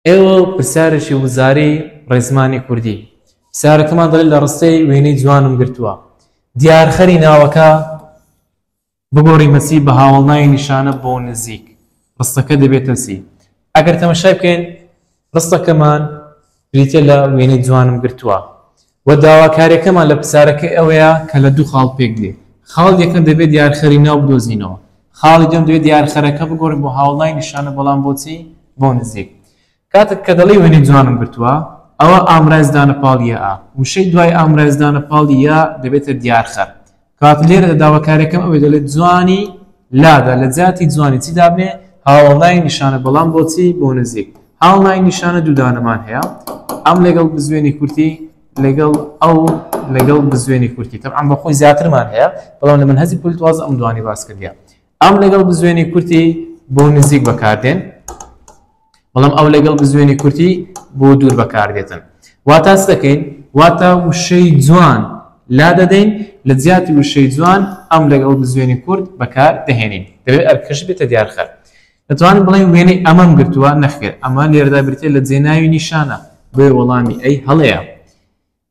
ئێوە پرسیارێکی وزاری ڕێزمانی کوردی پرسیارەکەمان دەڵێت لە ڕستەی وێنەی جوانم گرتووە دیارخەری ناوەکە بگۆڕی مەسی بە هاوڵناوی نیشانە بۆ نزیک ڕستەکە دەبێتە سی ئەگەر تەمەشای بکەین ڕستەکەمان بریتە لە وێنەی جوانم گرتووە وە داواکاریەکەمان لە پرسیارەکەی ئەوەیە کە لە دوو خاڵ پێک دێ خاڵی یەکەم دەبێ دیارخەری ناو بدۆزینەوە خاڵی دوێم دەبێ دیارخەرەکە بگۆڕین بۆ هاوڵای نیشانە بەڵام بۆچی بۆ نزیک کاتت کە دەڵی وێنەی جوانم گرتووە ئەوە ئامرازدانە پاڵ یە ئا وشەی دوای ئامرازدانە پاڵ یە دەبێتە دیارخەر کاتە لێرەدا داواکاریەکەم ئەوەی دەڵێت جوانی لادا لە جیاتی جوانی چی دابنێ هاوڵای نیشانە بەڵام بۆچی بۆ نزیک هاوڵای نیشانە دوودانەمان هەیە ئەم لەگەڵ بزوێنی کورتی لەگەڵ ئەو لەگەڵ بزوێنی کورتی تەعام بەخۆی زیاترمان هەیە بەڵام لە من هەزی پولتواز ئەم دوانی باس کردە ئەم لەگەڵ بزوێنی کورتی بۆ نزیک بەکاردێن بەڵام ئەو لەگەڵ بزوێنی کورتی بۆ دوور بەکاردێتن واتاس دەکەین واتە وشەی جوان لا دەدەین لە جیاتی وشەی جوان ئەم لەگەڵ بزوێنی کورت بەکار دەهێنین دەبێت ئەرکەش بێتە دیارخەر دەتوانین بڵێن وێنەی ئەمەم گرتووە نەخێر ئەمە لێردا برتێ لە جێناوی نیشانە بۆێ وەڵامی ئەی هەڵەیە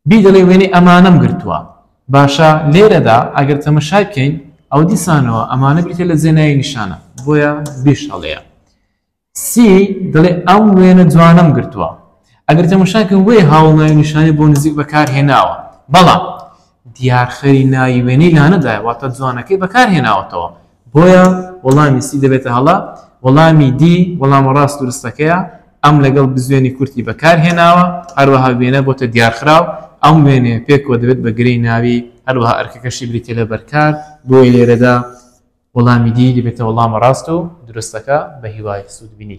بی دەڵێ وێنەی ئەمانەم گرتووە. باشە لێرەدا ئەگەر تەمەشای بکەین ئەوە دیسانەوە ئەمانە بریتیە لە جێ ناوی نیشانە بۆیە بیش هەڵەیە. سی دەڵێ ئەم وێنە جوانەم گرتووە. ئەگەر تەمەشای بکەین وێ هاوڵ ناوی نیشانی بۆ نزیک بەکار هێناوە. بەڵام دیارخەری ناوی وێنەی لانەدایە واتە جوانەکەی بەکار هێناوەتەوە. بۆیە وەڵامی سی دەبێتە هەڵە، وەڵامی دی وەڵامە ڕاست و رستەکەیە، ئەم لەگەڵ بزوێنی کورتی بەکار هێناوە، هەروەها وێنە بۆتە دیارخراو، ئەم وێنەیە پێکەوە دەبێت بە گرێی ناوی، هەروەها ئەرکەکەشی بریتیە لە بەرکار، بۆیە لێرەدا وەڵامی دی دەبێتە وەڵامە ڕاست و دروستەکە، بەهیوای سوودبینی.